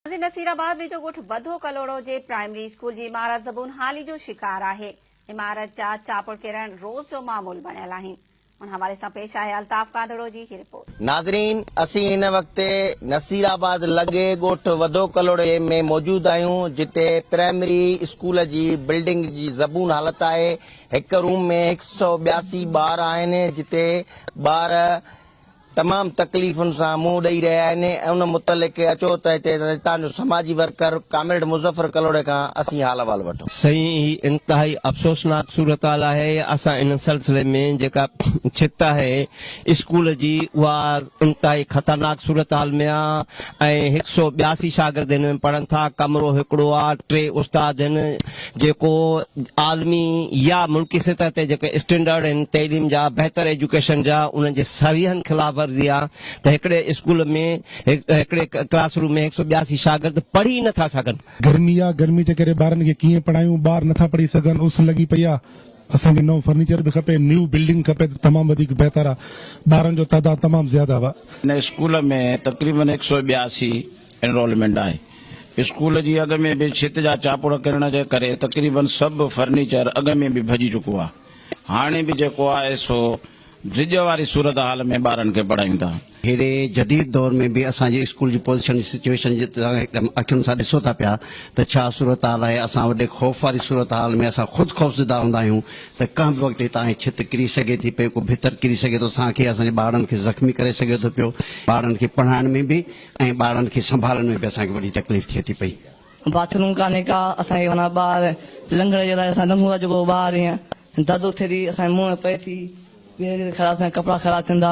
ماضي نصيرآباد ويجهو ڳوٺ بدو ڪلهوڙو جي پرائمري اسڪول جي عمارت زبون حالي جو شڪار آهي، عمارت جا چاپڙ ڪرڻ روز جو معمول بڻيل آهن، ان حوالي سان پيش آهي الطاف ڪانڌڙو جي هي رپورٽ. ناظرين اسين هن وقت نصيرآباد لڳي ڳوٺ وڌو ڪلهوڙي ۾ موجود آهيون جتي پرائمري اسڪول جي بلڊنگ جي زبون حالت آهي هڪ روم ۾ هڪ سؤ ٻياسي ٻار آهن جتي ٻار تمام تڪليفن سان منهن ڏئي رهيا آهن ۽ ان متعلق اچو ته هتي هتان جو سماجي ورڪر ڪامريڊ مظفر ڪلهوڙي کان اسين حال احوال وٺون. سائين هي انتهائي افسوسناڪ صورتحال آهي اسان ان سلسلي ۾ جيڪا ڇت آهي اسڪول جي اها انتهائي خطرناڪ صورتحال ۾ آ ۽ هڪ سئو ٻياسي شاگرد هن ۾ پڙهن ٿا ڪمرو هڪڙو آ ٽي استاد هن جيڪو عالمي يا ملڪي سطح تي جيڪي اسٽينڊرڊ آهن تعليم جا، بهتر ايجوڪيشن جا، انهن جي صريحن خلاف ورزي آهي ته هڪڙي اسڪول ۾ هڪڙي ڪلاس روم ۾ هڪ سؤ ٻياسي شاگرد پڙهي ئي نه ٿا سگهن. گرمي آ، گرمي جي ڪري ٻارن کي ڪيئن پڙهايون، ٻار نه ٿا پڙهي سگهن، اس لڳي پئي آ، اسان کي نئون فرنيچر به کپي، نيو بلڊنگ کپي ته تمام وڌيڪ بهتر آ، ٻارن جو تعداد تمام زياده آ. هن اسڪول ۾ تقريبن هڪ سؤ ٻياسي. انرولمينٽ آهي. اسڪول جي اڳ ۾ به ڇت جا چاپڙ ڪرڻ جي ڪري تقريباً سڀ فرنيچر اڳ ۾ به ڀڄي چڪو آهي. هاڻي به جيڪو آهي سو ڊڄ واري صورتحال ۾ ٻارن کي پڙهايون ٿا. هيڏي جديد دور ۾ به اسان جي اسڪول جي پوزيشن جي سچويشن جي توهان هڪدم اکين سان ڏسو ٿا پيا ته ڇا صورتحال آهي. اسان وٽ خوف واري صورتحال ۾ اسان خود خوفزده هوندا آهيون ته ڪنهن به وقت هتان هي ڇت ڪري سگهي ٿي پئي، ڪو ڀتر ڪري سگهي ٿو، سانگهي اسان جي ٻارڙن کي زخمي ڪري سگهي ٿو پيو. ٻارڙن کي پڙهائڻ ۾ به ۽ ٻارن کي سنڀالڻ ۾ به اسان کي وڏي تڪليف ٿئي ٿي پئي. باٿ روم ڪانهي ڪا اسان کي معنيٰ ٻاهر لنگهڻ جي لاء اسان لنگهون ٿا جيڪو ٻاهر ايئن دردو ٿئي ٿي اسان جي منهن ۾ پئي ٿي ٻيهر خراب ٿيندا ڪپڙا خراب ٿيندا.